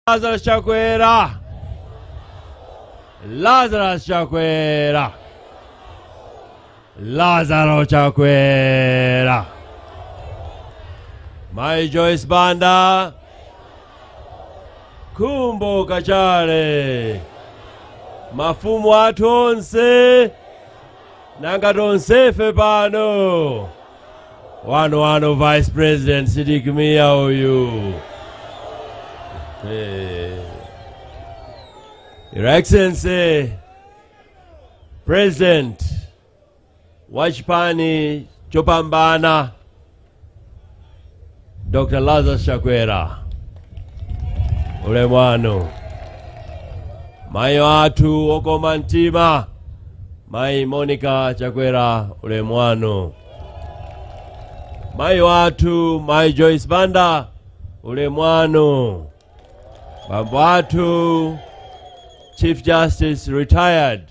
Lazarus Chakwera. Lazarus Chakwera. Lazaro Chakwera. Mai Joyce Banda. Kumbo Kachale. Mafumu athu onse. nanga tonsefe pano wanu wanu vice president sidik mia uyu Eh. your excellency president wa chipani chopambana Dr. Lazarus Chakwera ulemu wanu mayi wathu wokoma mtima mayi Monica Chakwera ulemu wanu mayi wathu mayi Joyce Banda ulemu wanu bambo athu Chief Justice retired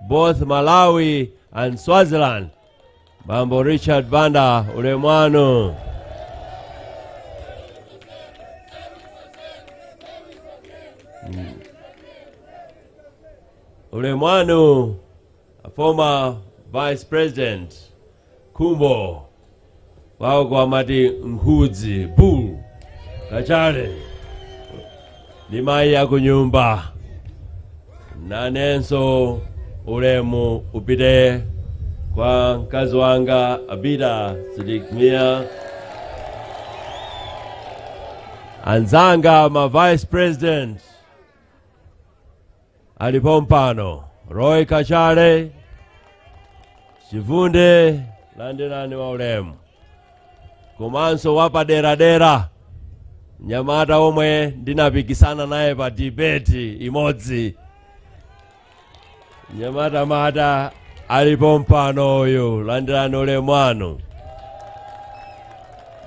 both Malawi and Swaziland. Bambo Richard Banda Ulemwano. Mm. Ulemwano, a former vice president Khumbo kwawoko amati nkhudzi bull kachale ndi mayi akunyumba nanenso ulemu upite kwa mkazi wanga abida sidikmia anzanga ma vice president ali pompano roy kachale chivunde landirani wa ulemu komanso wapaderadera nyamata omwe ndinapikisana naye pa dibeti imodzi nyamatamata ali pompano uyu landirani ulemu wanu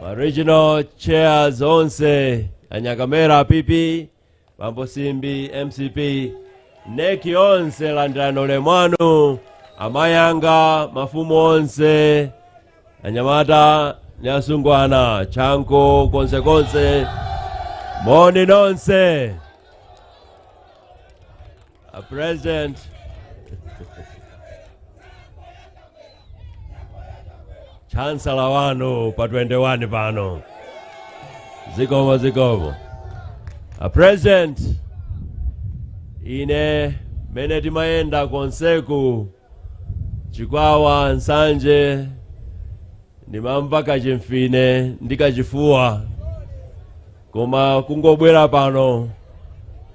ma regional chairs onse anyakamera pipi bambo simbi mcp NEC yonse landirani ulemu wanu amayi anga mafumu onse anyamata ndi asungwana chanko konsekonse moni nonse A president. chancellor wanu pa 21 pano zikomo zikomo a president ine mene timayenda konseku Chikwawa, Nsanje, ndimamva kachimfine ndi kachifuwa, koma kungobwera pano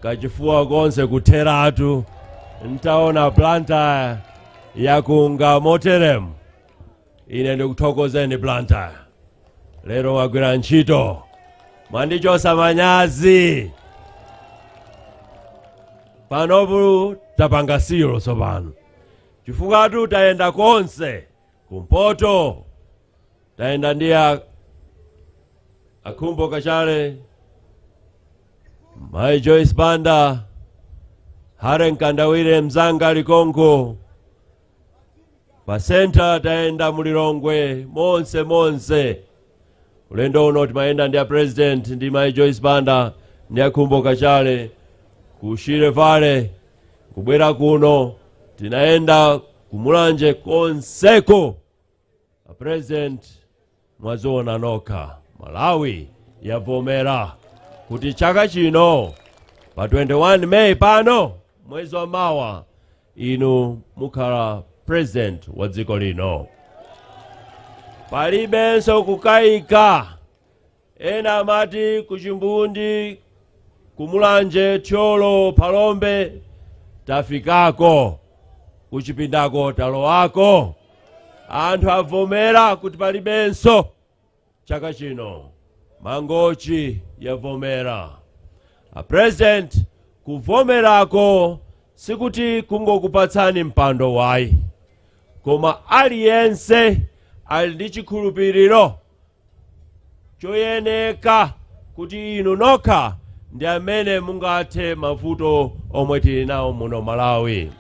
kachifuwa konse kutheratu, ntaona Blantyre yakunga moteremu. ine ndikuthokozeni blantyre lero wagwira ntchito mwandichotsa manyazi panopo tapanga seal tsopano chifukwa tu tayenda konse kumpoto tayenda ndi a- a Khumbo Kachali mayi joyce banda Harry Mkandawire mzanga likonko pa centre tayenda mu lilongwe monse monse ulendo uno timayenda ndi a president ndi mai joyce banda ndi a Khumbo Kachali ku Shire Valley kubwera kuno tinayenda kumulanje konseko A president mwaziona nokha Malawi yavomera kuti chaka chino pa 21 meyi pano mwezi wa mawa inu mukhala president wa dziko lino palibenso kukayika Ena amati ku Chimbundi, ku Mulanje, Thyolo, Phalombe tafikako, kuchipindako talowako. Anthu avomera kuti palibenso chaka chino. Mangochi yavomera. A President, kuvomerako sikuti kungokupatsani mpando wayi, koma aliyense ali ndi chikhulupiriro choyeneka kuti inu nokha ndi amene mungathe mavuto omwe tili nawo muno malawi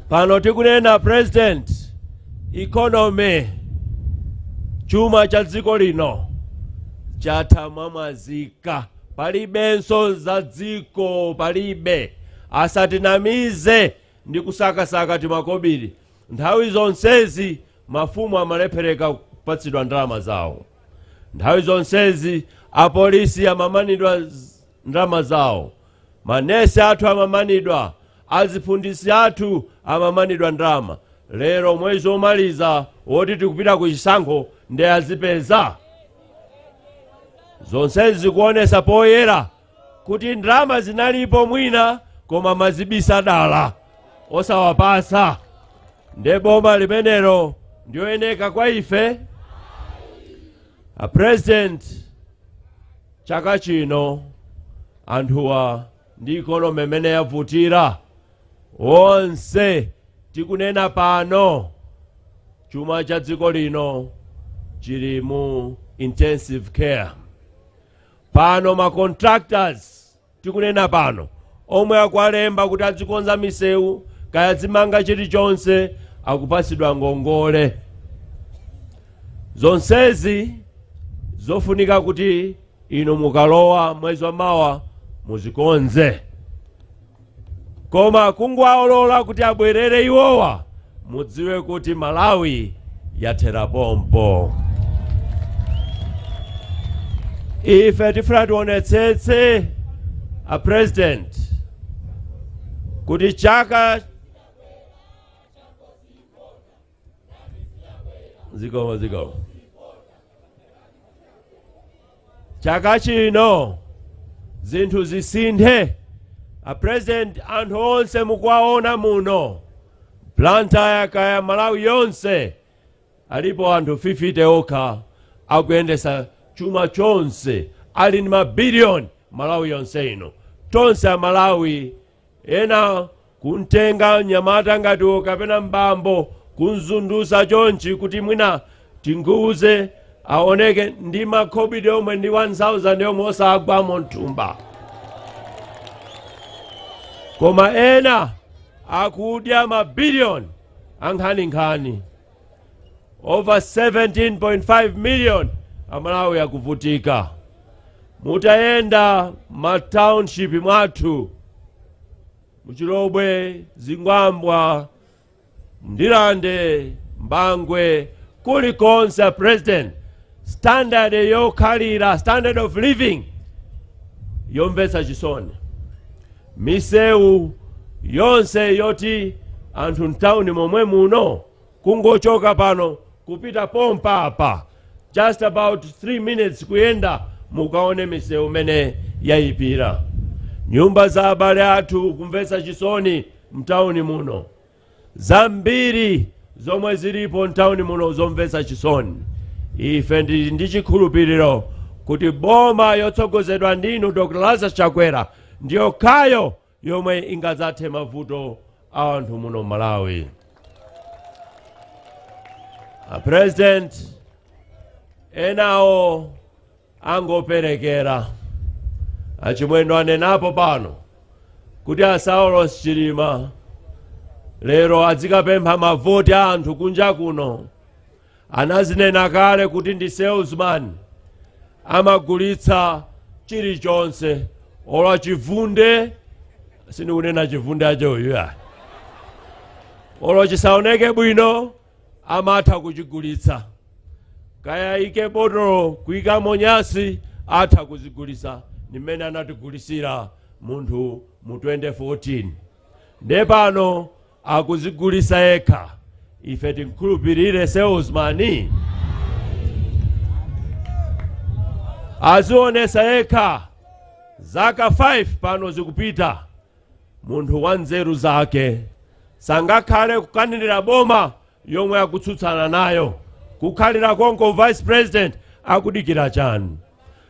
pano tikunena present economy chuma cha dziko lino chatha mwamwazika palibenso za dziko palibe asatinamize ndi kusakasaka timakobiri nthawi zonsezi Mafumu amalephereka kupatsidwa ndalama zawo. Nthawi zonsezi apolisi amamanidwa ndalama zawo, manesi athu amamanidwa, aziphunzitsi athu amamanidwa ndalama. Lero mwezi omaliza woti tikupita ku chisankho nde azipeza? Zonsezi zikuonesa poyera kuti ndalama zinalipo mwina koma amazibisa dala osawapatsa nde boma limenelo ndiyoyeneka kwa ife a president chaka chino anthuwa ndi economy imene yavutira onse tikunena pano chuma cha dziko lino chili mu intensive care pano ma contractors tikunena pano omwe akuwalemba kuti adzikonza misewu kaya dzimanga chilichonse akupatsidwa ngongole zonsezi zofunika kuti inu mukalowa mwezi wa mawa muzikonze koma kungowalola kuti abwerere iwowa mudziwe kuti malawi yathera pompo ife tifuna tionetsetse a president kuti chaka chaka chino zinthu zisinthe a president anthu onse mukuwaona muno blantyre kaya malawi yonse alipo anthu 50 okha akuyendesa chuma chonse ali ndi mabiliyoni malawi yonse ino tonse amalawi ena kumtenga mnyamata ngati uyo kapena m'bambo kumzondotsa chonchi kuti mwina tigubuze aoneke ndi makhobidi yomwe ndi 1000 yomwe osagwamo mthumba koma ena akudya mabiliyoni ankhaninkhani over 17.5 million amalawi akuvutika mutayenda ma township mwathu muchilobwe zingwangwa ndirande bangwe kulikonse a president standard yokhalira standard of living yomvetsa chisoni misewu yonse yoti anthu mtawuni momwe muno kungochoka pano kupita pompa apa just about 3 minutes kuyenda mukaone misewu mene yayipira nyumba za abale athu kumvetsa chisoni mtawuni muno zambiri zomwe zilipo mtawuni muno zomvetsa chisoni ife ndili ndi chikhulupiriro kuti boma yotsogozedwa ndinu dr lazarus chakwera ndi yokhayo yomwe ingadzathe mavuto a anthu muno mmalawi a president enawo angoperekeza achimwendo anenapo pano kuti asaulos chilima lero azikapempha mavoti a anthu kunja kuno anazinena kale kuti ndi salesman amagulitsa chilichonse olo chivunde sindikunena chivunde icho ayi olo chisaoneke bwino amatha kuchigulitsa kaya ayike botolo kuyikamo nyansi atha kuzigulitsa ndi mmene anatigulitsira munthu mu 2014 nde pano akuzigulitsa yekha ife timkhulupirire salesman azionesa yekha zaka 5 pano zikupita munthu wa nzeru zake sangakhale kukanirira boma yomwe akutsutsana nayo kukhalira konko vice president akudikira chani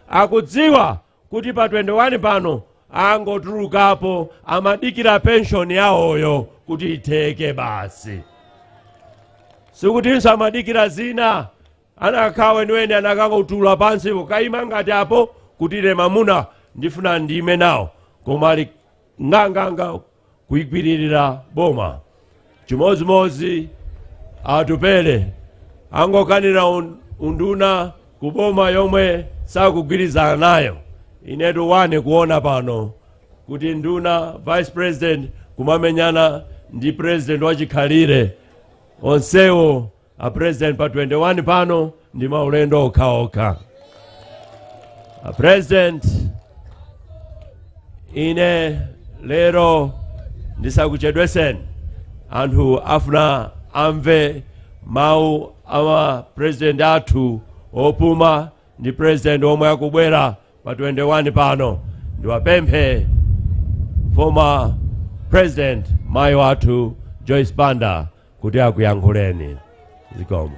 akudziwa kuti pa 21 pano angotulukapo amadikira penshoni yawoyo kuti itheke basi sikutinso amadikira zina anakakhala weniweni anakautula pansi nkukaima ngati apo kuti ine mamuna ndifuna ndime nawo koma ali nganganga kuigwiririra boma chimodzimodzi atupele angokanira un- unduna ku boma yomwe sakugwirizana nayo inetu waneni kuona pano kuti nduna vice president kumamenyana ndi president wachikhalire onsewo a president pa 21 pano ndi maulendo okhaokha a president ine lero ndisakuchedweseni anthu afuna amve mawu a mapresident athu opuma ndi president omwe akubwera pa 21 pano ndiwapemphe former president mayi wathu joyce banda kuti akuyankhuleni zikomo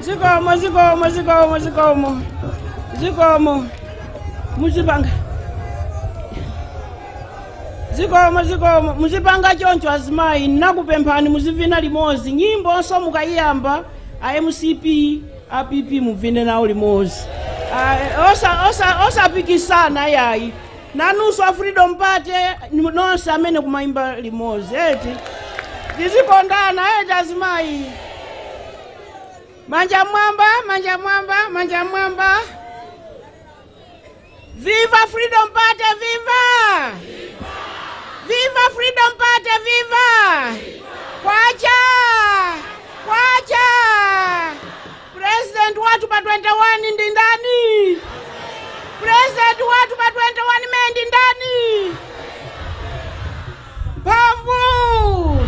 zikomo zikomo zikomo zikomo zikomo muzipanga zikomo zikomo muzipanga choncho azimayi nakupemphani muzivina limodzi nyimbonso mukayiyamba a mcp a pp muvine nawo limodzi a osa- osa- osapikisana yayi nanunso a freedom party ni- nonse amene kumayimba limodzi eti tizikondana eti azimayi manja mwamba manja mwamba manja mwamba viva freedom party viva viva freedom party viva kwacha kwacha President wathu pa 21 ndi ndani? President wathu pa 21 May ndi ndani? Mphamvu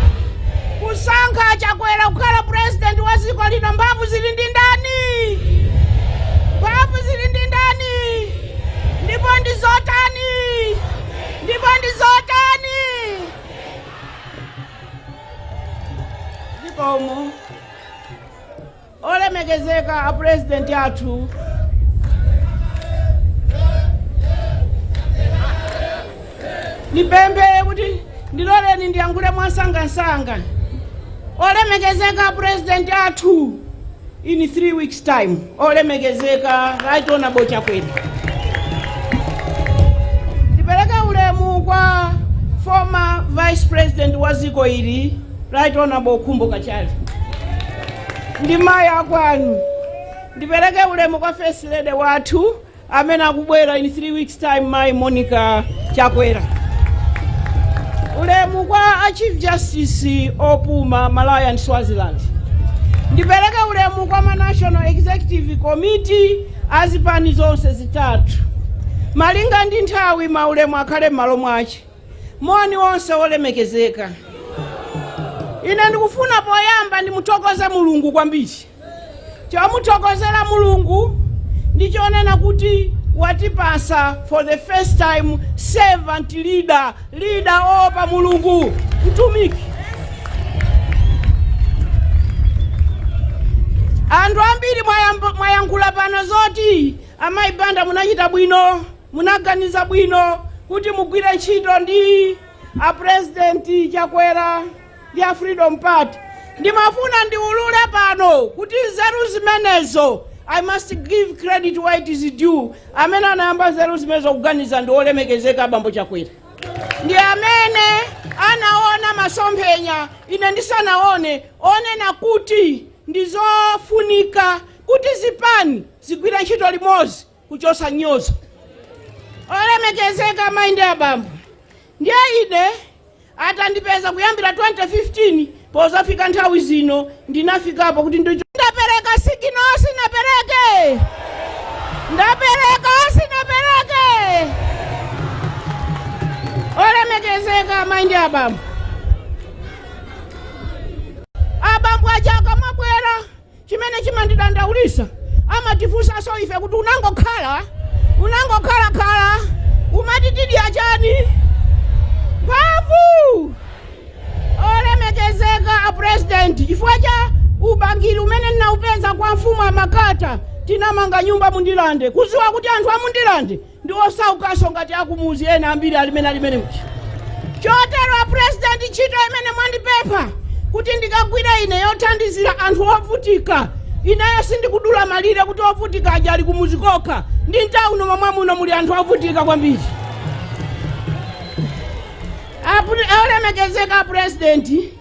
kusankha Chakwera kukhala president wa dziko lino, mphamvu zili ndi ndani? Mphamvu zili ndi ndani? Ndipo ndi zotani? Ndipo ndi zotani? Ndipo umu Olemekezeka a Pulezidenti athu, ndipemphe kuti ndiloleni ndiyankhule mwansangansanga. Olemekezeka a Pulezidenti athu in three weeks time. Olemekezeka Right Honourable Chakwera. Ndipereke ulemu kwa former Vice President wa ziko ili Right Honourable Khumbo Kachali. Ndi mayi akwanu. Ndipereke ulemu kwa First Lady wathu amene akubwera in 3 weeks time mayi monica chakwera ulemu kwa a chief justice opuma malawi and swaziland ndipereke ulemu kwa ma national executive committee azipani zonse zitatu malinga ndi nthawi maulemu akhale m'malo mwake moni nonse olemekezeka ine ndikufuna poyamba ndimuthokoze mulungu kwambiri Chomuthokozera Mulungu ndi chonena kuti watipasa for the first time servant leader, leader oopa Mulungu, mtumiki. Anthu ambiri mwayankhula pano zoti amayi Banda munachita bwino, munaganiza bwino kuti mugwire ntchito ndi a president Chakwera. ndi a freedom party ndimafuna ndiulule pano kuti nzeru zimenezo i must give credit where it is due amene anayamba nzeru zimenezo kuganiza ndi olemekezeka abambo chakwera ndi amene anaona masomphenya ine ndisanaone onena kuti ndizofunika kuti zipani zigwire ntchito limodzi kuchosa nyozo olemekezeka amayi ndi abambo Ndiye ine atandipeza kuyambira 2015 pozafika nthawi zino ndinafikapo kuti ndicho ndapereka sigino sinapereke ndapereka sinapereke olemekezeka amayi ndi abambo abambo aja akamabwera Chimene chimandidandaulisa amatifunsaso ife kuti unangokhala unangokhala khala umati tidya chani mphamvu olemekezeka a president chifukwa cha ubangiri umene ndinaupeza kwa mfumu ya Makata tinamanga nyumba mu Ndirande kuziwa kuti anthu a mu Ndirande ndi osaukaso ngati akumuzi ena ambiri alimene alimene muja chotero apurezidenti ntchito imene mwandipempha kuti ndikagwire ine yothandizira anthu ovutika ineyo sindikudula malire kuti ovutika aja ali kumuzi kokha ndi m'tawuni momwe muno muli anthu ovutika kwambiri olemekezeka apurezidenti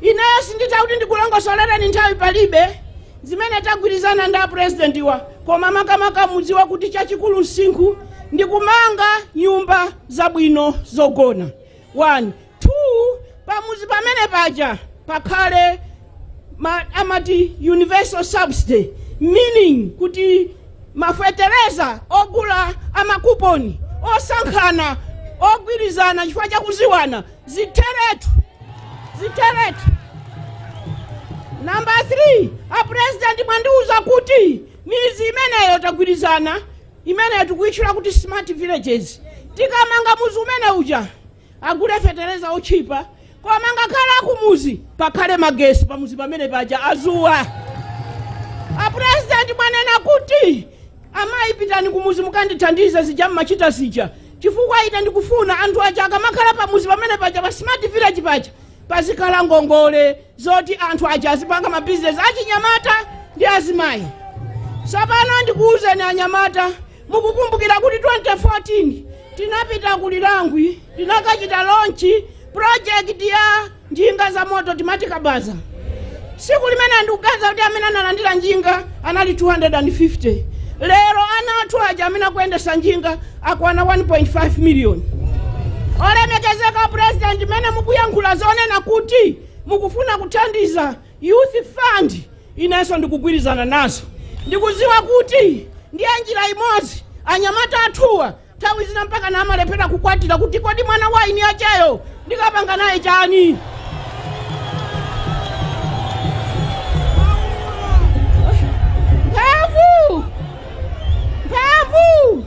ineyo sinditha kuti ndikulongosolereni nthawi palibe Zimene tagwirizana ndi a president wa koma makamaka mudziwe kuti chachikulu nsichi ndi kumanga nyumba zabwino zogona 1 2 pamudzi pamene paja pakhale ma, amati universal subsidy meaning kuti mafetereza ogula amakuponi osankhana ogulitsana chifukwa chakuziwana Zitheretu! Zitheretu! Number three, a president mwandiuza kuti mizi imeneyo tagwirizana imeneyo tikuyitchula kuti smart villages tikamanga muzi umene uja agule fetereza otchipa koma ngakhale akumuzi pakhale magesi pamuzi pamene paja azuwa a president mwanenanso kuti Amayi pitani kumuzi mukandithandize zija mumachita zija chifukwa ine ndikufuna anthu aja akamakhala pamuzi pamene paja pa smart village paja pazikhala ngongole zoti anthu aja azipanga mabizinesi achinyamata ndi azimayi tsopano ndikuwuzeni anyamata mukukumbukira kuti 2014 tinapita ku Lirangwe tinakachita launch project ya njinga za moto timati kabaza tsiku limene ndikuganiza kuti amene analandira njinga anali 250 lero ana athu aja amene akuyendesa njinga akwana 1.5 miliyoni olemekezeka president mumene mukuyankhula zonena kuti mukufuna kuthandiza youth fund inenso ndikugwirizana nazo ndikuziwa kuti ndiye njira imodzi anyamata athuwa Nthawi zina mpakana amalephera kukwatira kuti kodi mwana wa eni yacheyo ndikapanga naye chani? Mphamvu! Mphamvu!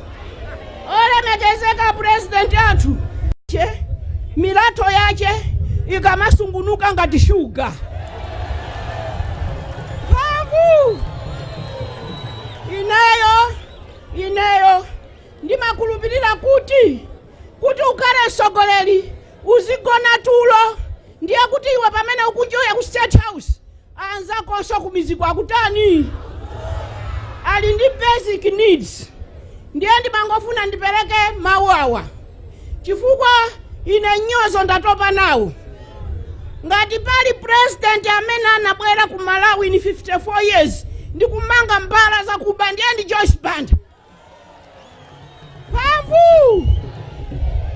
Olemekezeka purezidenti Atcheya milatho yache ikamasungunuka ngati shuga. Mphamvu! Ineyo Ineyo ndimakhulupirira kuti kuti ukhale mtsogoleri usamagone tulo ndiye kuti iwe pamene ukunjoya ku state house anzakonso kumidziko akutani ali ndi basic needs ndiye ndimangofuna ndipereke mawu awa chifukwa ine mnyozo ndatopa nawo ngati pali president amene anabwera ku malawi in 54 years ndi kumanga mbala zakuba ndiye ndi joyce banda mphamvu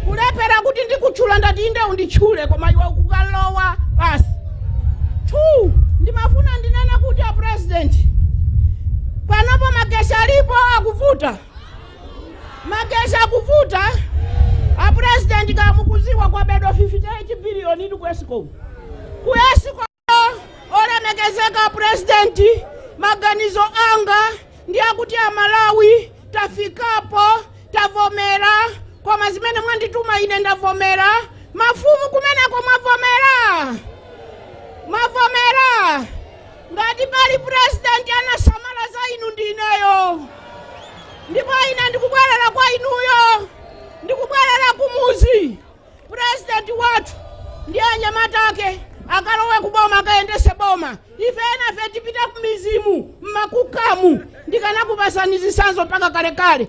kulephera kuti ndikutchula ndati iwe unditchule koma iwe ukukalowa basi two ndimafuna ndinene kuti a president panopo magesi alipo akuvuta Magesi akuvuta a president kaya mukudziwa kwabedwa 58 billion ku escom ku escom olemekezeka president maganizo anga ndi akuti amalawi tafikapo tavomera koma zimene mwandituma ine ndavomera mafumu kumeneko mwavomera Ngati pali president anasamala za inu ndi ineyo, ndipo ine ndikubwerera kwa inuyo, ndikubwerera kumudzi. President wathu ndi anyamata ake akalowe kuboma akayendese boma, ife enafe tipite kumidzimu mmakukamu, ndikanakupasani zitsanzo mpaka kalekale.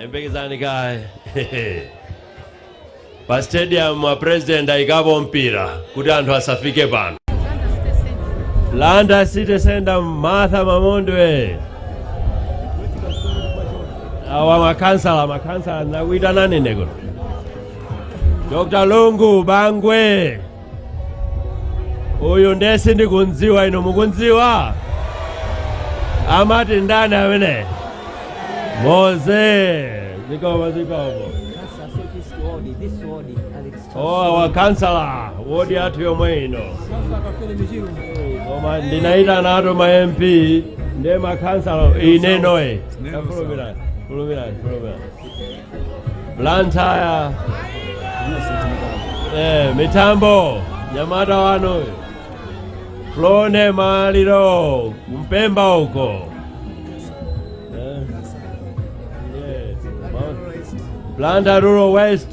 yembekezani kaye pa stadium wa president ayikapo mpira kuti anthu asafike pano Blantyre city center martha mamondwe awa makansala makansala nakuitanani ndekuno dr lungu bangwe uyu ndiye sindikundziwa inu mukundziwa amati ndani amene moze zikomo zikomo awa akhansala wodi yathu yomwe ino koma ndinayitana ato ma mp ndiye makhansala ine noye Neno, sir. fulumira fulumira fulumira Blantyre eh, mitambo nyamata wano uyu. flone maliro kumpemba huko eh. yes. Blantyre Rural West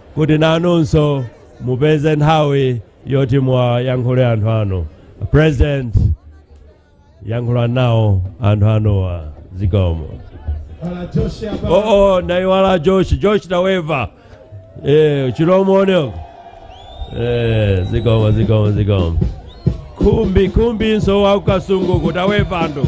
kuti nanunso mupeze nthawi yoti muwayankhule anthu anu president yankhula nawo anthu anuwa zikomo Bwana Josh hapa. oh, oh, naiwala josh josh taweva eh, chilomoni uko eh, zikomo zikomo zikomo kumbi kumbi nso wakukasunguku taweva ndu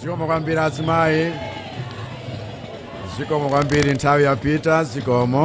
zikomo kwambiri azimayi zikomo kwambiri nthawi yapita zikomo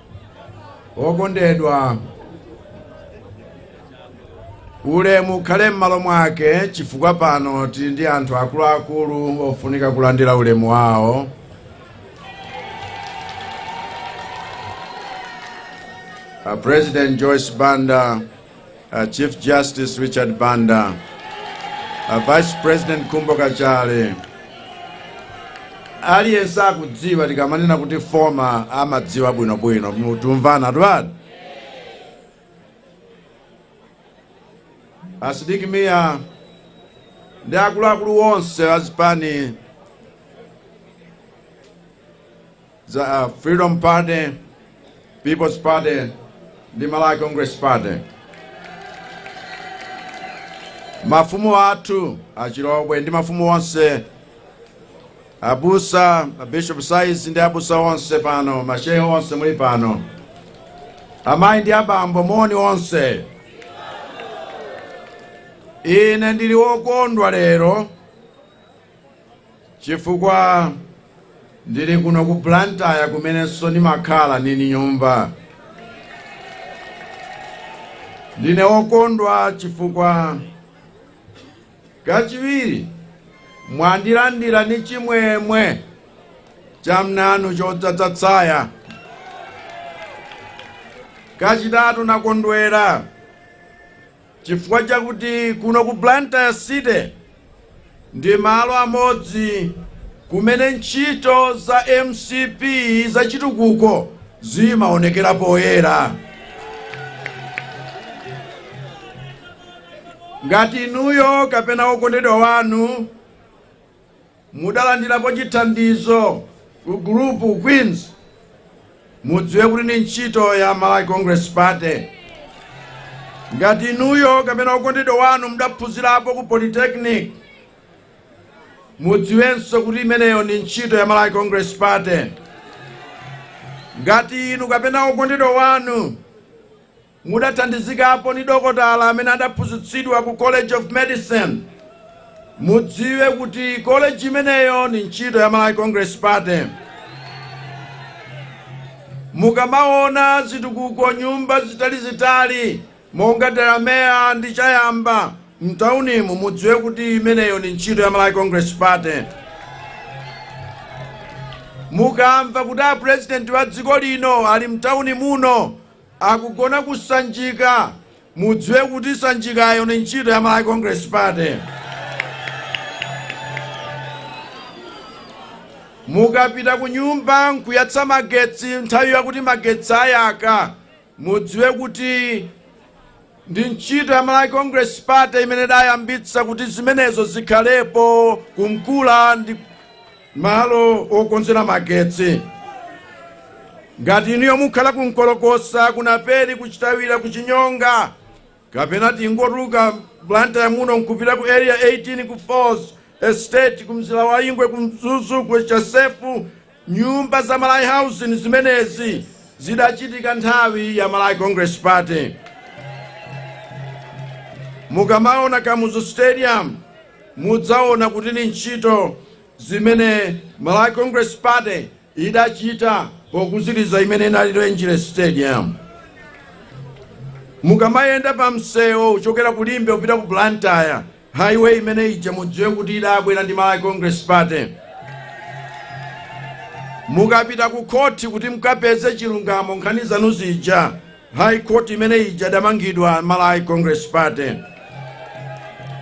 okondedwa ulemu ukhale m'malo mwake chifukwa pano tili ndi anthu akuluakulu ofunika kulandira ulemu wawo a president joyce banda a Chief Justice Richard Banda, a Vice President Khumbo Kachali, aliyense akudziwa tikamanena kuti former amadziwa bwinobwino tikumvana twani a Sidik Mia ndi akuluakulu onse azipani za Freedom Party, People's Party ndi Malawi Congress Party. Mafumu athu a Chilobwe ndi mafumu onse abusa abishop size ndi abusa onse pano mashehe onse muli pano amayi ndi abambo moni onse ine ndili wokondwa lero chifukwa ndili kuno ku Blantyre kumenenso ndimakhala nili ni nyumba. Ndine wokondwa chifukwa kachiwiri mwandilandira ni chimwemwe chamnanu chodzadza tsaya. Kachitatu nakondwera chifukwa chakuti kuno ku Blantyre City ndi malo amodzi kumene ntchito za mcp zachitukuko zimaonekera poyera. Ngati inuyo kapena wokondedwa wanu mudalandirapo chithandizo ku gulupu Queens, mudziwe kuti ndi ntchito ya Malawi Congress Party. Ngati inuyo kapena okondedwa wanu mudaphunzirapo ku Polytechnic, mudziwenso kuti imeneyo ndi ntchito ya Malawi Congress Party. Ngati inu kapena okondedwa wanu Mudathandizikapo ndi dokotala amene adaphunzitsidwa ku College of Medicine. Mudziwe kuti college imeneyo ndi ntchito ya Malawi Congress Party. Mukamaona zitukuko nyumba zitalizitali monga Delamere ndi Chayamba mtaunimu mudziwe kuti imeneyo ndi ntchito ya Malawi Congress Party. Mukamva kuti a president wa dziko lino ali mtauni muno akugona ku Sanjika, mudziwe kuti Sanjikayo ndi ntchito ya Malawi Congress Party. Mukapita ku nyumba nkuyatsa magetsi nthawi yakuti magetsi ayaka, mudziwe kuti Ndi ntchito ya Malawi Congress Party imene idayambitsa kuti zimenezo zikhalepo ku Nkula ndi malo okonzera magetsi. Ngati inuyo mukhala ku Nkolokosa, ku Naperi, ku Chitawira, ku Chinyonga, kapena tingotuluka Blantyre muno nkupita ku area 18 ku Falls Estate, ku Mzilawaingwe, ku Mzuzu, ku Chasefu, Nyumba za Malawi Housing zimenezi zidachitika nthawi ya Malawi Congress Party. Mukamaona Kamuzu Stadium mudzaona kuti ni ntchito zimene Malawi Congress Party idachita pokuzitsa imene inali Rangeley Stadium. Mukamayenda pa msewu kuchokera ku Limbe kupita ku Blantyre Highway imene ija mudziwe kuti idabwera ndi Malawi Congress Party. Mukapita ku khoti kuti mkapeze chilungamo nkhani zanu zija, High Court imene ija idamangidwa Malawi Congress Party.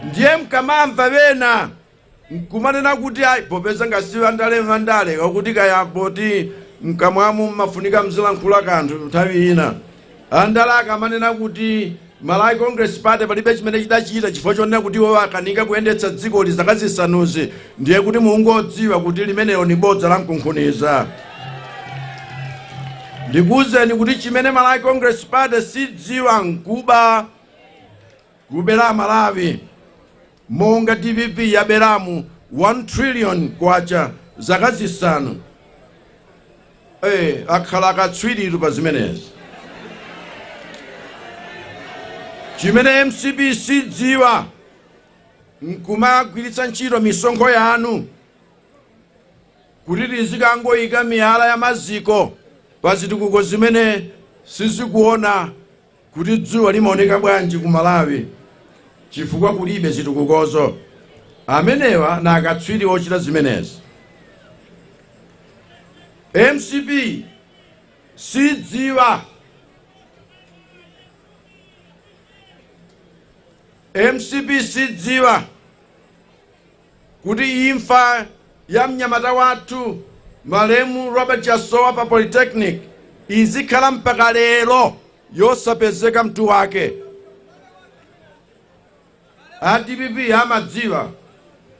Ndiye mkamamva ena nkumanena kuti ayi popeza nga si wandale m'mandalemu akuti kaya poti mkamwamu mmafunika mzilankhula kanthu nthawi ina Andale akamanena kuti Malawi Congress Party palibe chimene chidachita chifukwa chonena kuti iwowa akanika kuyendetsa dziko lino zaka zisanuzi ndiye kuti mungodziwa kuti limenelo ni bodza la mkunkhuniza. Ndikuwuzeni kuti chimene Malawi Congress Party sidziwa nkuba kubera a Malawi. Monga dpp yabelamu 1 trillion kwacha zaka zisanu ee akhala akatswiritu pa zimenezi. Chimene mcp sidziwa nkumagwiritsa ntchito misonkho yanu kuti tizikangoyika miyala ya maziko pa zitukuko zimene sizikuoneka kuti dzuwa limaoneka bwanji ku malawi chifukwa kulibe zitukukozo amenewa nga akatswiri ochita zimenezi mcp sidziwa mcp sidziwa kuti imfa ya mnyamata wathu malemu Robert Chasowa pa Polytechnic izikhala mpaka lero yosapezeka mutu wake. A dpp amadziwa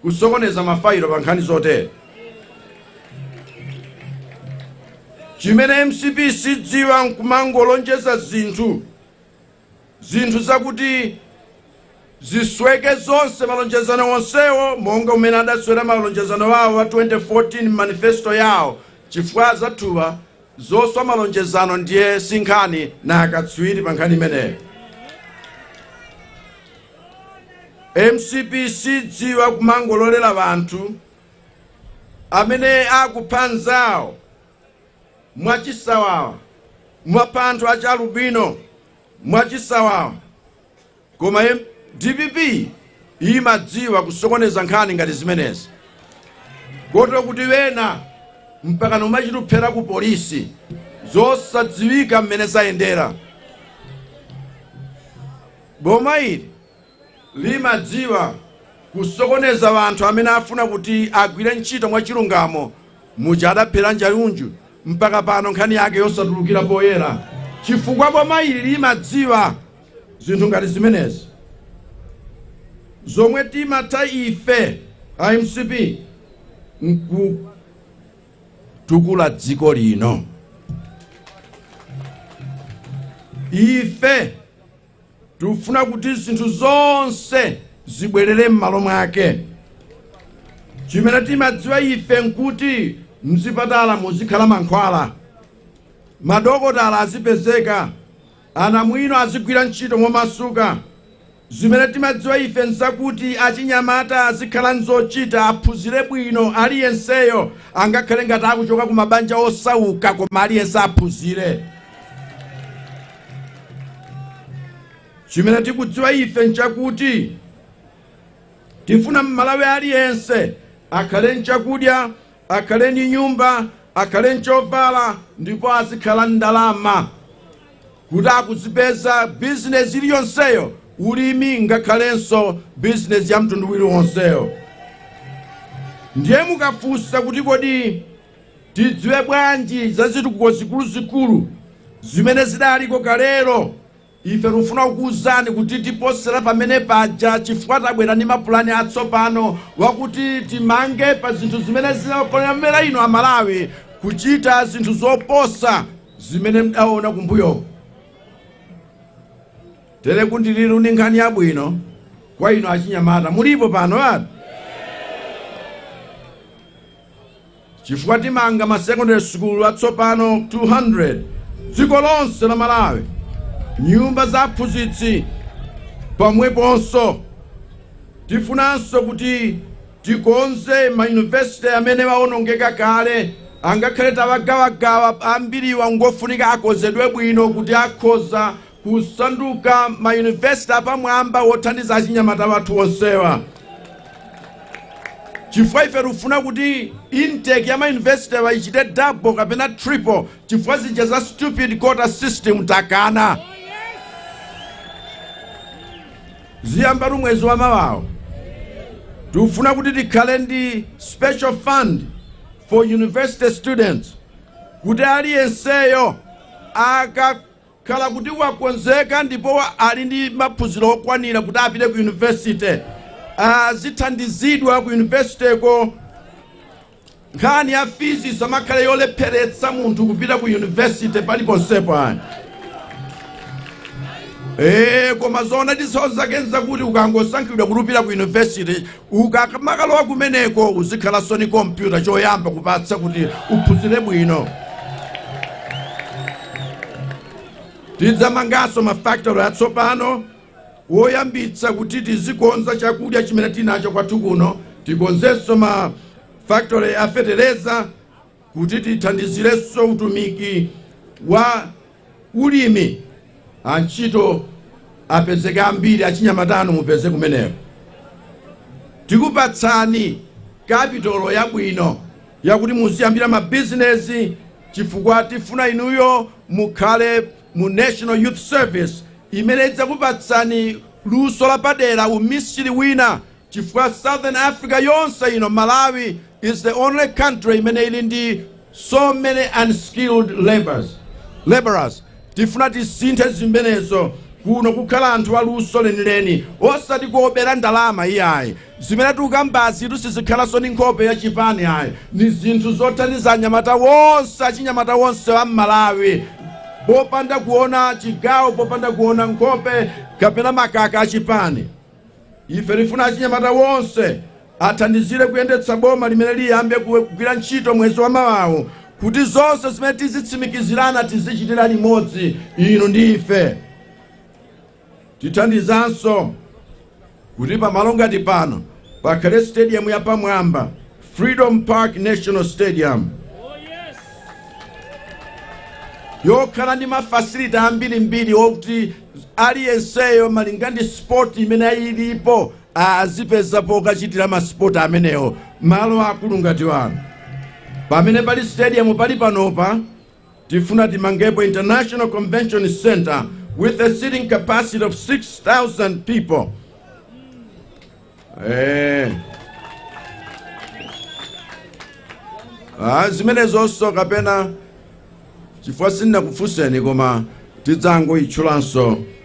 kusokoneza mafailo pa nkhani zotere. Chimene mcp sidziwa nkumangolonjeza zinthu zinthu zakuti zisweke zonse malonjezano onsewo monga umene adaswera malonjezano awo a 2014 manifesto yawo chifukwa anzathuwa zoswa malonjezano ndiye si nkhani nga akatswiri pa nkhani imeneyo mcp sidziwa kumangololera wanthu amene akupha nzawo mwachisawawa akupha anthu achi alubino mwachisawawa koma em- dpp imadziwa kusokoneza nkhani ngati zimenezi koti kuti wena mpaka nkumachita kuphera ku polisi zosadziwika mmene zayendera boma ili limadziwa kusokoneza anthu amene afuna kuti agwire ntchito mwachilungamo muja adaphera Njauju mpaka pano nkhani yake yosatulukira poyera chifukwa boma ili limadziwa zinthu ngati zimenezi zomwe timatha ife a mcp nkutukula dziko lino ife tikufuna kuti zinthu zonse zibwerere m'malo mwake chimene timadziwa ife nkuti mzipatala muzikhala mankhwala madokotala azipezeka anamwino azigwira ntchito momasuka zimene timadziwa ife nzakuti achinyamata azikhala nzochita aphunzire bwino aliyenseyo angakhale ngati akuchoka ku mabanja osauka koma aliyense aphunzire chimene tikudziwa ife nchakuti tifuna mmalawi aliyense akhale nchakudya akhale ndi nyumba akhale nchovala ndipo azikhala ndalama kuti akuzipeza bizinesi iliyonseyo ulimi ngakhalenso bizinesi ya mtundu uliwonseyo ndiye mukafunsa kuti kodi tidziwe bwanji za zitukuko zikuluzikulu zimene zidaliko kalero ife tifuna kukuwuzani kuti tiposera pamene paja chifukwa tabwera ndi mapulani atsopano wakuti timange pa zinthu zimene zinakomera inu amalawi kuchita zinthu zoposa zimene mudaona kumbuyo tere ku ndirande ndi nkhani yabwino kwa inu achinyamata mulipo pano ati chifukwa timanga ma secondary school atsopano 200 dziko lonse la malawi nyumba za aphunzitsi pomweponso tifunanso kuti tikonze ma university amene waonongeka kale angakhale tawagawagawa ambiriwa ngofunika akonzedwe bwino kuti akhoza kusanduka ma university apamwamba wothandiza achinyamata athu onsewa chifukwa ife tikufuna kuti intake ya ma university wa ichite double kapena triple chifukwa zija za stupid quota system takana ziyambatu mwezi wa mawawu tikufuna kuti tikhale ndi special fund for university students kuti aliyenseyo aka khala kuti wakonzeka ndipo ali ndi maphunziro okwanira kuti apite ku university azithandizidwa ku universityko nkhani ya fizi isamakhale yolepheretsa munthu kupita ku university paliponsepo ayi Eh, koma zoona zake nzakuti ukangosankhidwa kuti upita ku university Ukamakalowa kumeneko uzikhalanso ni kompyuta choyamba kupatsa kuti uphunzire bwino. Tidzamanganso ma factory atsopano woyambitsa kuti tizikonza chakudya chimene tinacho kwathu kuno. Tikonzenso ma factory a fetereza Kuti tithandizirenso utumiki wa ulimi, antchito apezeke ambiri, achinyamata inu mupeze kumeneko. Tikupatsani kapitolo yabwino yakuti muziyambira mabizinezi chifukwa tifuna inuyo mukhale mu National Youth Service imene idzakupatsani luso lapadera, umisiri wina chifukwa southern africa yonse ino malawi is the only country imene ili ndi so many unskilled laborers tifuna tisinthe zimenezo kuno kukhale anthu aluso lenileni osati kuobera ndalama iyayi zimene tikukambazitu sizikhalanso ndi nkhope ya chipani ayi ni zinthu zothandiza anyamata onse achinyamata onse a mmalawi popanda kuona chigawo popanda kuona nkhope kapena makaka a chipani ife tifuna achinyamata wonse athandizire kuyendetsa boma limene liyambe kuwe- kugwira ntchito mwezi wa mawawu kuti zonse zimene tizitsimikizirana tizichitira limodzi inu ndi ife tithandizanso kuti pamalo ngati pano pakhale stadium yapamwamba Freedom Park National Stadium yokhala ndi mafasiliti ambirimbiri okuti aliyenseyo malinga ndi sport imene ilipo azipezapo pokachitira masipoti amenewo malo aakulu ngati ano pamene pali stadium pali panopa Tifuna timangepo International Convention Center with a seating capacity of 6,000 people. Eh. Ah, zimenezonso kapena chifukwa sindinakufunseni koma tidzangoitchulanso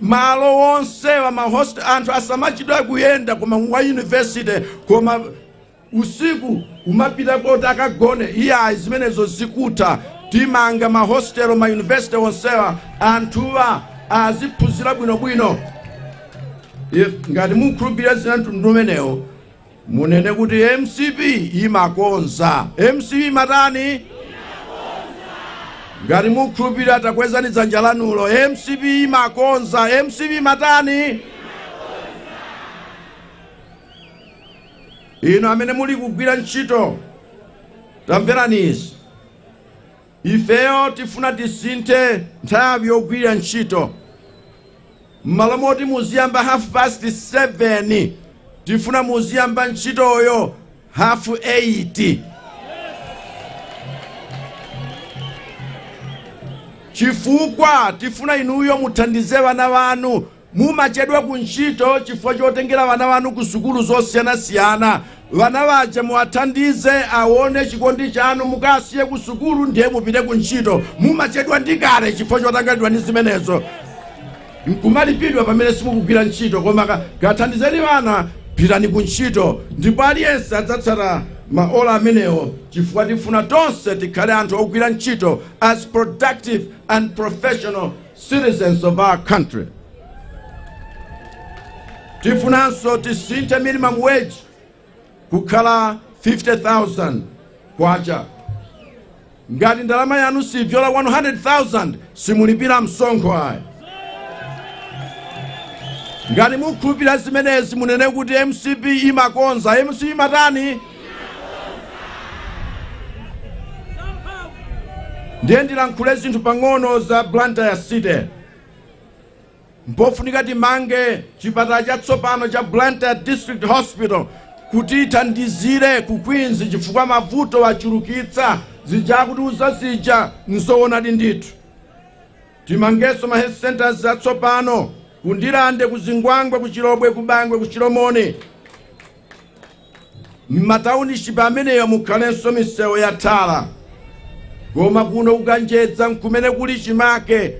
malo onsewa anthu asamachita kuyenda koma wa university koma usiku nkumapita koti akagone iyayi zimenezo zikutha timanga ma hostel ma university onsewa anthuwa aziphunzira bwinobwino If- ngati mukhulupirira zina za mtundu umenewo munene kuti mcp imakonza mcp imatani ngati mukhulupirira takwezani dzanja lanulo mcp imakonza mcp imatani inu amene muli kugwira ntchito tamverani izi Ifeyo tifuna tisinthe nthawi yogwilira ntchito. Mmalo moti muziyamba half past 7 tifuna muziyamba ntchitoyo half 8. Chifukwa tifuna inuyo muthandize wana wanu Mumachedwa ku ntchito chifukwa chotengera wana wanu ku sukulu zosiyanasiyana. Wana waja muwathandize awone chikondi chanu. Mukasiye ku sukulu ndiye mupite ku ntchito. Mumachedwa ndi kale chifukwa chotanganidwa ndi zimenezo. Nkumalipidwa pamene simukugwira ntchito koma ka, kathandizeni wana pitani ku ntchito ndipo aliyense adzatsata ma ola amenewo chifukwa tifuna tonse tikhale anthu ogwira ntchito as productive and professional citizens of our country. Tifunanso tisinthe minimum wage kukhala 50,000 kwacha. Ngati ndalama yanu sibzola 100,000 simulipira msonkho ayi. Ngati mukhulupirira zimenezi munene kuti MCP imakonza, MCP imatani? ndiye ndilankhule zinthu pang'ono za blantyre city mpofunika timange chipatala chatsopano cha blantyre district hospital kuti ithandizire ku queens chifukwa mavuto achulukitsa zija akuti uzazija nzoonadi ndithu timangenso ma health centers atsopano kundilande kuzingwangwe kuchilobwe kubangwe kuchilomoni m'mataunishipi amenewa mukhalenso misewu ya tala koma kuno kukanjeza nkumene kuli chimake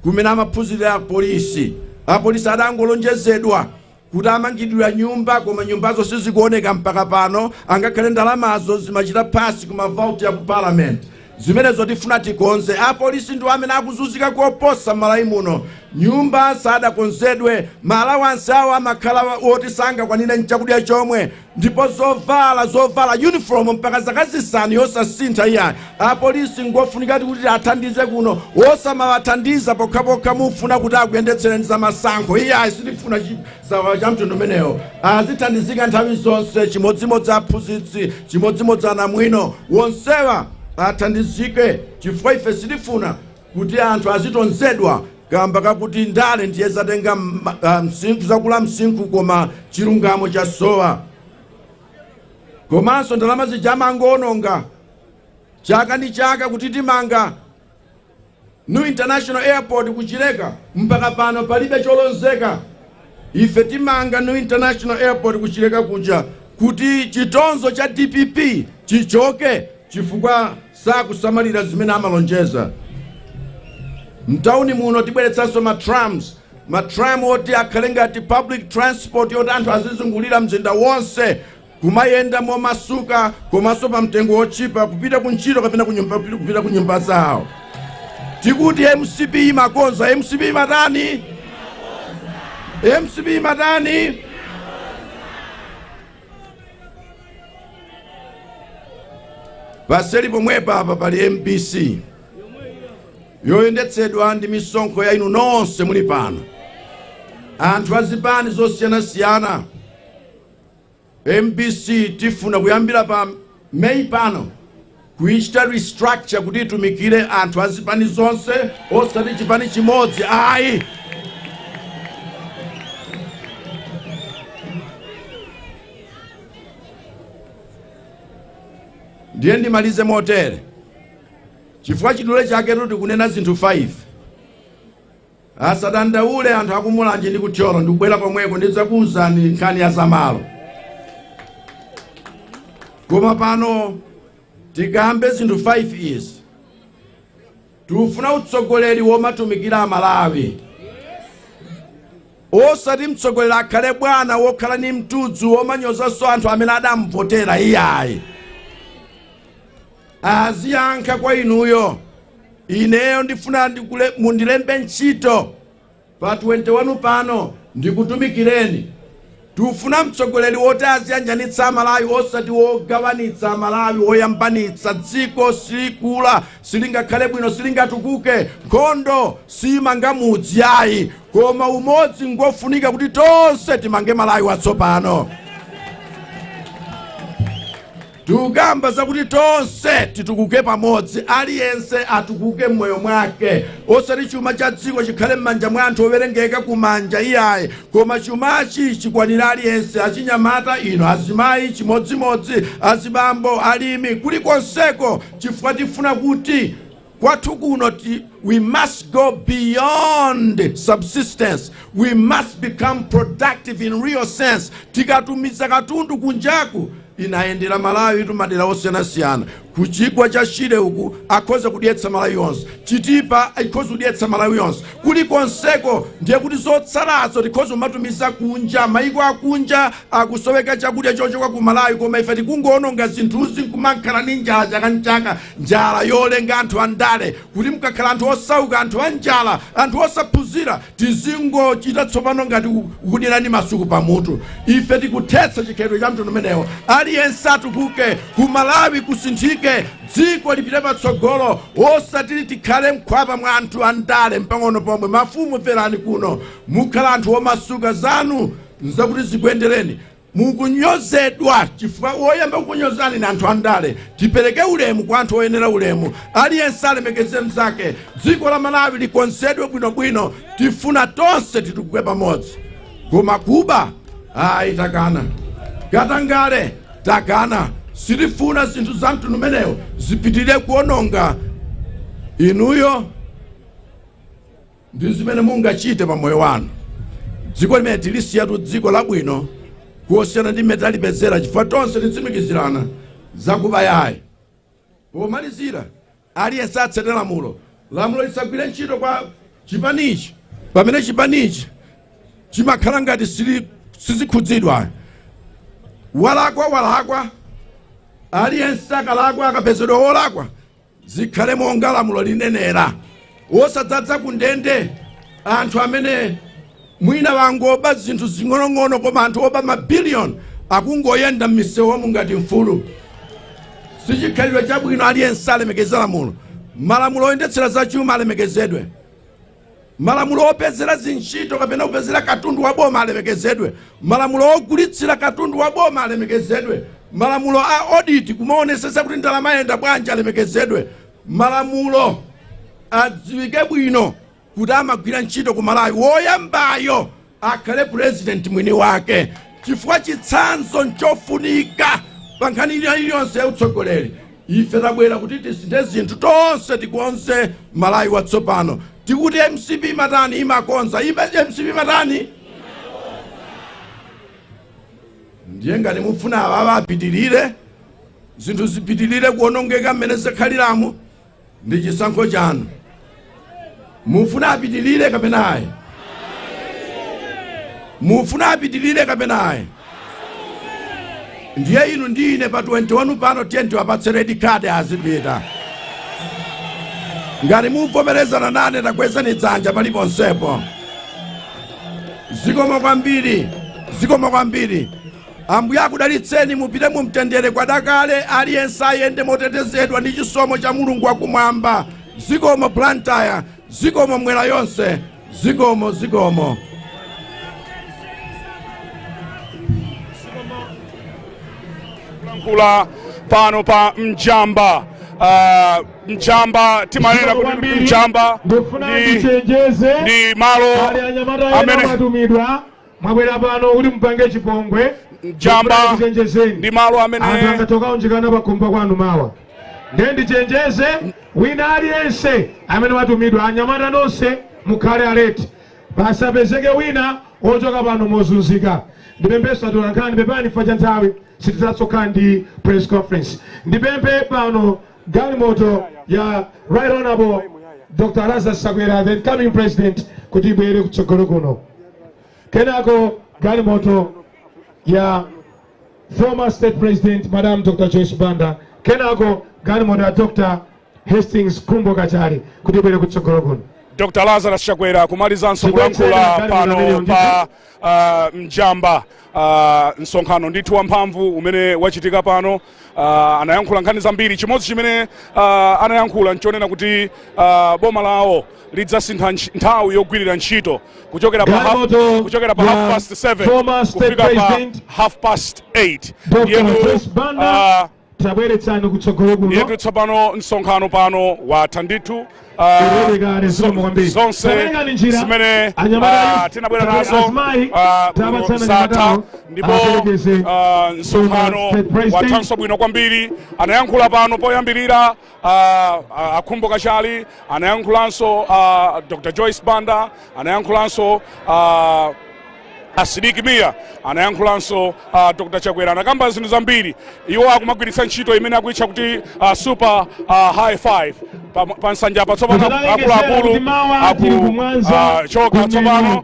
kumene amaphunzirira apolisi apolisi adangolonjezedwa kuti amangidwira nyumba koma nyumbazo sizikuoneka mpaka pano angakhale ndalamazo zimachita pasi ku mavauti ya ku parliament Zimenezo tifuna tikonze. Apolisi ndiwo amene akuzunzika koposa m'Malawi muno. Nyumba sadakonzeredwe, ma allowance awo amakhala woti sangakwanire n'chakudya chomwe, ndipo zovala, zovala, uniform mpaka zaka zisanu yosasintha iyayi. Apolisi n'ngofunikadi kuti athandize kuno, osamawathandiza pokhapokha mufuna kuti akuyendetsereni zamasankho. Iyayi, sitifuna. chisawawa cha mtundu umenewo azithandizika nthawi zonse chimodzimodzi aphunzitsi chimodzimodzi anamwino wonsewa athandizike chifukwa ife sitifuna kuti anthu azitonzedwa kamba kakuti ndale ndiye zatenga msinkhu zakula msinkhu koma chilungamo chasowa komanso ndalama zija amangoononga chaka ndi chaka kuti timanga New International Airport ku Chileka mpaka pano palibe cholozeka. Ife timanga New International Airport ku Chileka kuja kuti chitonzo cha DPP chichoke chifukwa sakusamalira zimene amalonjeza. Mtauni muno tibweretsanso ma tram ma tram oti akhale ngati public transport yoti anthu azizungulira mzinda wonse kumayenda momasuka komanso pa mtengo wotchipa kupita ku ntchito kapena kupita ku nyumba zawo tikuti mcp imakonza mcp imatani mcp imatani paseri pomwepa apa pali mbc yoyendetsedwa ndi misonkho ya inu nonse muli pano anthu azipani zosiyanasiyana mbc tifuna kuyambira pa may pano kuichita restructure kuti itumikire anthu azipani zonse osati chipani chimodzi ayi ndiye ndimalize motere chifukwa chidule chaketu tikunena zinthu 5 Asadandaule anthu a ku Mulanje ndi ku Thyolo, ndikubwera komweko ndidzakuuzani nkhani ya zamalo. Koma pano tikambe zinthu 5 izi. Tikufuna utsogoleri womatumikira Amalawi. osati mtsogoleri akhale bwana wokhala ni mtudzu womanyozanso anthu amene adamvotera iyayi aziyankha kwa inuyo ineyo ndifuna mundilembe ntchito pa 21 pano ndikutumikireni tufuna mtsogoleri woti aziyanjanitsa amalawi osati wogawanitsa amalawi woyambanitsa dziko silikula silingakhale bwino silingatukuke nkhondo simanga mudzi ayi koma umodzi ngofunika kuti tonse timange malawi watsopano Tikukamba zakuti tonse titukuke pamodzi, aliyense atukuke m'moyo mwake, osati chuma cha dziko chikhale m'manja mwa anthu owerengeka m'manja iyayi, koma chumachi chikwanire aliyense, achinyamata inu, azimayi chimodzimodzi, azibambo, alimi, kulikonseko chifukwa tifuna kuti. kwathu kuno we must go beyond subsistence we must become productive in real sense tizikatumiza katundu kunjaku ndayendera Malawitu madera osiyanasiyana ku chigwa cha shire uku akhoza kudyetsa malawi yonse chitipa ikhoza kudyetsa malawi yonse kulikonseko ndiye kuti zotsalazo tikhoza kumatumiza kunja maiko akunja akusowa chakudya chochoka ku malawi koma ife tikungoononga zinthuzi nkumankhala ni njala chaka ni chaka njala yolenga anthu andale kuti mkakhala anthu osauka anthu anjala anthu osaphunzira tizingochita tsopano ngati kudyerani masuku pamutu ife tikuthetsa chikhalidwe cha mtundu umenewo aliyense atukuke ku malawi kusinthike dziko lipite patsogolo osati tikhale mkhwapa mwa anthu andale mpang'ono pomwe mafumu mverani kuno mukhala anthu omasuka zanu nzakuti zikuyendereni Mukunyozedwa chifukwa woyamba kukunyozani ni anthu andale. Tipereke ulemu kwa anthu oyenera ulemu. Aliyense alemekeze mzake. Dziko la Malawi likonzedwe bwinobwino. Tifuna tonse titukuke pamodzi. Koma kuba ayi takana. Katangale takana. Sitifuna zinthu za mtundu umenewo zipitirire kuononga inuyo ndi zimene mungachite pa moyo wanu dziko limeneli tilisiyatu dziko labwino losiyana ndi mmene talipezera chifukwa tonse titsimikizirana zakuba ayi pomalizira aliyense atsate lamulo lamulo lisagwire ntchito kwa chipanichi pamene chipanichi chimakhala ngati sichikhudzidwa walakwa walakwa aliyense akalakwa akapezedwa wolakwa zikhale monga lamulo linenera osadzaza ku ndende anthu amene mwina wangoba zinthu zing'onong'ono koma anthu oba mabiliyoni akungoyenda m'misewumu ngati mfulu sichikhalidwe chabwino aliyense alemekeze lamulo malamulo oyendetsera zachuma alemekezedwe Malamulo opezera zintchito kapena kupezera katundu wa boma alemekezedwe. Malamulo ogulitsira katundu wa boma alemekezedwe. Malamulo a audit, kumaonetsetsa kuti ndalama yayenda bwanji, alemekezedwe. Malamulo adziwike bwino kuti amagwira ntchito ku Malawi. Woyambayo akhale president mwini wake chifukwa chitsanzo nchofunika pa nkhani ina iliyonse ya utsogoleri ife tabwera kuti tisinthe zinthu tonse tikonze malawi watsopano tikuti mcp imatani imakonza mcp imatani ndiye ngati mufuna awawa apitirire zinthu zipitirire kuonongeka mmene zakhaliramu ndi chisankho chanu mufuna apitilire kapena ayi mufuna apitilire kapena ayi ndiye inu ndi ine pa 21 pano tiyeni tiwapatse red card azipita ngati muvomerezana nane takwezani dzanja paliponsepo zikomo kwambiri zikomo kwambiri Ambuye akudalitseni, mupite mu mtendere kwadakale, aliyense ayende motetezedwa ndi chisomo cha Mulungu wakumwamba. Zikomo Blantyre, zikomo Mmwera yonse, zikomo zikomo. Kulankhula pano pa mjamba uh, mjamba timanena kuti Kwambiri, mjamba ndikufuna ndi ndichenjeze ndi malo pali anyamata ena amene amatumidwa mwabwera pano kuti mupange chipongwe Mjamba Ndikufuna ndichenjezeni. ndi malo anthu amene angatakaunjikana pakhomo kwanu mawa ndiye ndichenjeze wina aliyense amene watumidwa anyamata nonse mukhale aleti pasapezeke wina wochoka pano mozunzika ndipepesenso atolankhani pepani fa cha nthawi sitizathanso kukhala ndi press conference ndipemphe pano galimoto ya right honorable dr lazarus chakwera the incoming president kuti ibwere kutsogolo kuno kenako galimoto ya former state president madam dr joyce banda kenako galimoto ya dr khumbo kachali kuti ibwere kutsogolo kuno Dr. Lazarus Chakwera kumalizanso Chibwenzi kulankhula Dr. pano Dr. pa uh, mjamba Uh, msonkhano ndithu wamphamvu umene wachitika pano uh, anayankhula nkhani zambiri chimodzi chimene uh, anayankhula nchonena kuti uh, boma lawo lidzasintha ntch- nthawi yogwirira ntchito kuchokera pa half, Galimoto kuchokera pa ya half past 7 former state kufika pa president half past 8 Dr. Yeno, Joyce Banda uh, tabweretsani kutsogolo kuno ndiyetu tsopano msonkhano pano watha ndithu ah, Taperekani zikomo kwambiri. zonse Taperekani njira. zimene Anyamata ah, ayi, tinabwera tabwe- nazo azimayi, ah, kuno tapatsani zatha anyamatawo, ndipo aperekeze ah, msonkhano State President. wathanso bwino kwambiri anayankhula pano poyambirira Uh, uh, a khumbo kachali anayankhulanso uh, dr joyce banda anayankhulanso uh, a sidik mia anayankhulanso uh, dr chakwera anakamba zinthu zambiri iwo akumagwiritsa ntchito imene akuitcha kuti uh, super uh, high five pa, pa nsanja apa tsopano akuluakulu akuchoka tsopano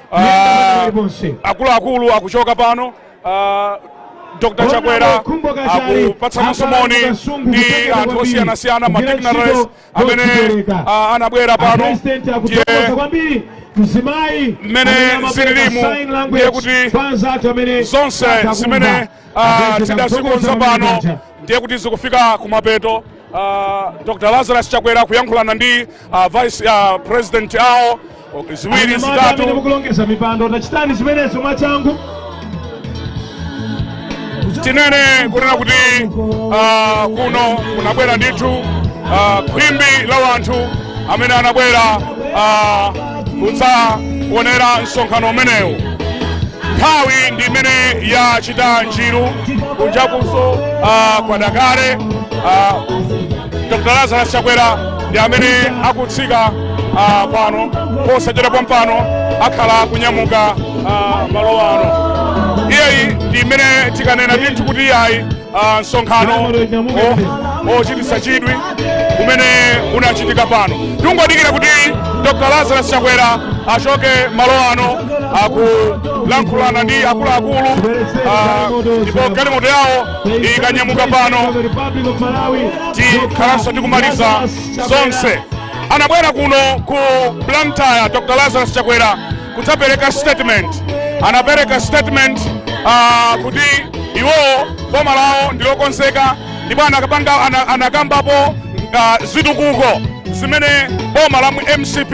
Ah, akuluakulu akuchoka pano ah, dr chakwera akupatsananso moni ndi anthu osiyanasiyana madignitaries amene ah, anabwera pano ndiye mzimayi mmene zililimu ndiye kuti zonse zimene ah, tidazikonza pano ndiye kuti zikufika kumapeto Ah, dr lazarus chakwera kuyankhulana ndi a vice president awo ziwiri Anyamata amene zitatu mukulongeza mipando tachitani zimenezo mwachangu tinene kunena kuti ah, kuno kunabwera ndithu ah, khwimbi la wanthu amene anabwera ah, kudzaonera msonkhano umenewu nthawi ndi imene yachita njiru kunjakunso ah, kwada kale ah, dr lazarus chakwera ndi amene akutsika ah, pano posachedwa pompano akhala akunyamuka ah, malo ano iyeyi ndi imene tikanena ndithu kuti iyayi ah, msonkhano o- ochititsa chidwi umene unachitika pano tingodikira kuti dr lazarus chakwera achoke malo ano akulankhulana ndi akuluakulu ah, ndipo galimoto yawo ikanyamuka pano tikhalanso tikumaliza zonse anabwera kuno ku blantyre dr lazarus chakwera kudzapereka statement anapereka statement uh, kuti iwowo boma lawo ndilokonzeka ndipo anakapanga ana- anakambapo uh, zitukuko zimene boma la mu mcp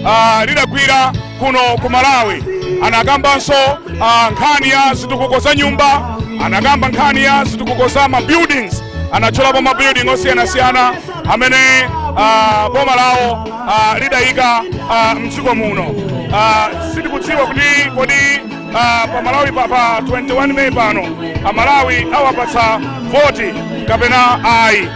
uh, lidagwira kuno ku malawi anakambanso ah, nkhani ya zitukuko za nyumba anakamba nkhani ya zitukuko za ma buildings anatchulapo ma building osiyanasiyana amene ah, boma lawo ah, lidayika ah, mdziko muno Ah, sitikudziwa kuti kodi ah, pa malawi pa, pa 21 meyi pano amalawi awapatsa voti kapena ayi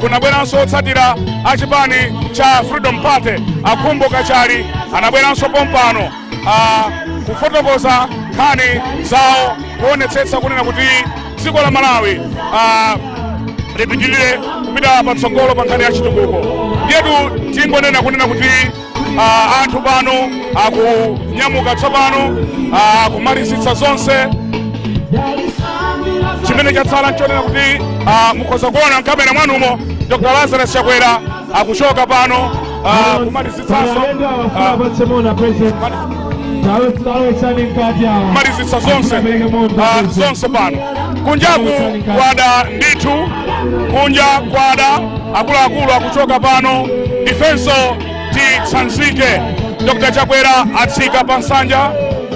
kunabweranso otsatira a chipani cha freedom party akhumbo kachali anabweranso pompano ah, kufotokoza nkhani zawo kuonetsetsa kunena kuti dziko la malawi ah, lipitirire kupita patsogolo pa nkhani ya chitukuko ndiyetu tingonena kunena kuti Ah, anthu pano akunyamuka tsopano ah, kumalizitsa zonse chimene chatsala nchonena kuti ah, mukhoza kuona mkamera mwanumo dr lazarus chakwera akuchoka pano ah, kumalizitsanso ah, kumalizitsa zonse ah, zonse pano kunjaku kwada ndithu kunja kwada akuluakulu akuchoka pano ifenso titsanzike dr chakwera atsika pa nsanja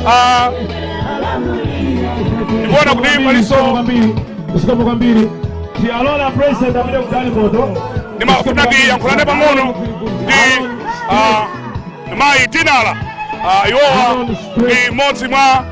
ah, ndikuona kuti palinso zikomo kwambiri tialola president amene kudali moto ndimafuna ndiyankhulane pang'ono ndi ah, mayi dinala ah, iwowa ndi mmodzi mwa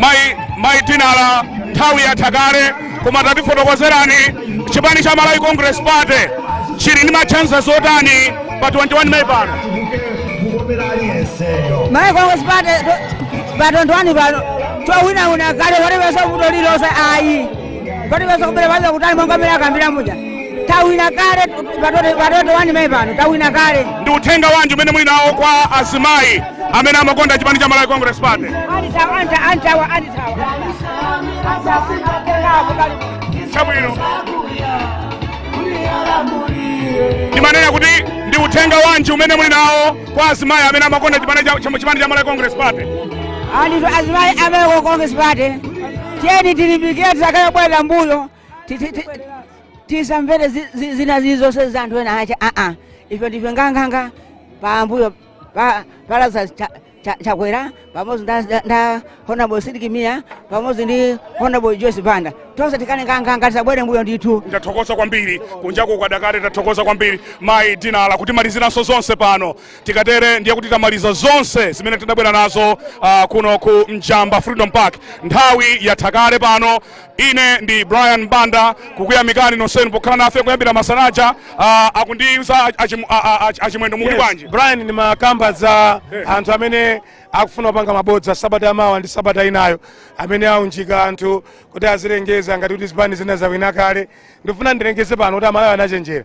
mayi mayi dinala nthawi yatha kale koma tatifotokozerani chipani cha malawi congress party chili ndi machances otani pa 21 May pano malawi congress party pa 21 pano twawinawina kale sitipeza vuto lilonse ayi atipeza kubera pasakhale kuti monga amene akambira muja tawina kale pa 21 May pano tawina kale ndi uthenga wanji umene muli nawo kwa azimayi amene amakonda chipani cha malawi congress party antawa anta antawa antawa chabwino ndimanena kuti ndi uthenga wanji umene muli nawo kwa azimayi amene amakonda chipani cha- cha- chipani cha malawi congress party azimayi amene a congress party tiyeni tilimbikire tisakhale kubwerera mbuyo Ti- ti- ti- tisamvere zi- zi- zina zilizonse za anthu enaake aa ife ndife nganganga pambuyo pa pa Lazarus Cha- Cha- chakwera pamodzi nda- nda- nda honorable sidik mia pamodzi ndi honorable joyce banda tonse tikhale nganganga tisabwere mbuyo ndithu ndathokoza kwambiri kunjaku kwada kale ndathokoza kwambiri mayi dinala kutimaliziranso zonse pano Tikatero ndiye kuti tamaliza zonse zimene tidabwera nazo uh, kuno ku Njamba Freedom Park. Nthawi yatha kale pano. Ine ndi Brian Banda kukuyamikani nonsenu pokhala nafe kuyambira masanaja uh, akundiuza achim- a- a- a- achimwendo muli bwanji. brian ndimakamba za anthu amene akufuna kupanga mabodza sabata yamawa ndi sabata inayo amene aunjika anthu kuti azilengeza ngati kuti zipani zina zawina kale ndifuna ndilengeze pano kuti amalawi anachenjera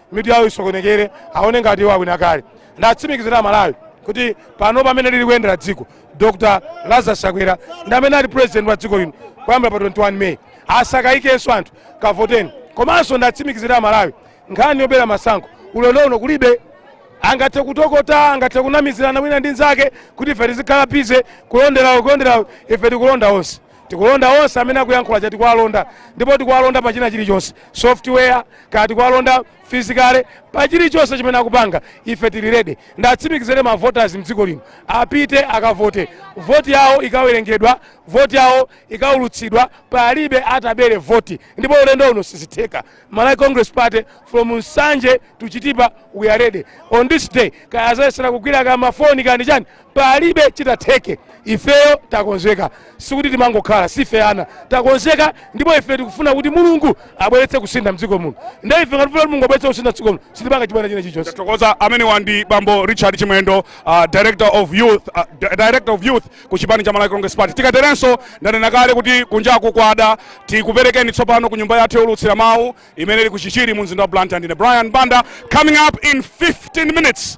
mitu yawo isokonekere aone ngati iwo awina kale ndiwatsimikizire amalawi kuti pano pamene lili kuyendera dziko dr lazarus chakwera ndi amene ati president wa dziko lino kuyambira pa 21 may asakayikenso anthu kavoteni komanso ndiwatsimikizire amalawi nkhani yobera masankho ulendo uno kulibe angathe kutokota angathe kunamizirana wina ndi nzake kuti ife tizikhala busy kulonderawo kulonderawo ife tikulonda onse Tikulonda onse amene akuyankhula aja tikuwalonda ndipo tikuwalonda pa china chilichonse software kaya tikuwalonda physically pa chilichonse chimene akupanga ife tili ready ndiwatsimikizire ma voters mdziko lino apite akavote voti yawo ikawerengedwa voti yawo ikaulutsidwa palibe atabere voti ndipo ulendo uno sizitheka Malawi Congress Party from Nsanje to Chitipa we are ready on this day kaya adzayesera kugwira kaya mafoni kaya ndi chani palibe chitatheke ifeyo takonzeka sikuti timangokhala sife ana takonzeka ndipo ife tikufuna kuti mulungu abweretse kusintha mdziko muno nde ife ngati kuti mulungu abweretse kusintha mdziko muno sitipanga chibwana china chilichonse tathokoza amenewa ndi bambo richard chimwendo uh, director of youth uh, di- director of youth ku chipani cha malawi congress party tikaterenso ndanena kale kuti kunjaku kwada tikuperekeni tsopano ku nyumba yathu youlutsira mawu imene ili ku chichiri mu mzinda wa blantyre ndine brian banda coming up in 15 minutes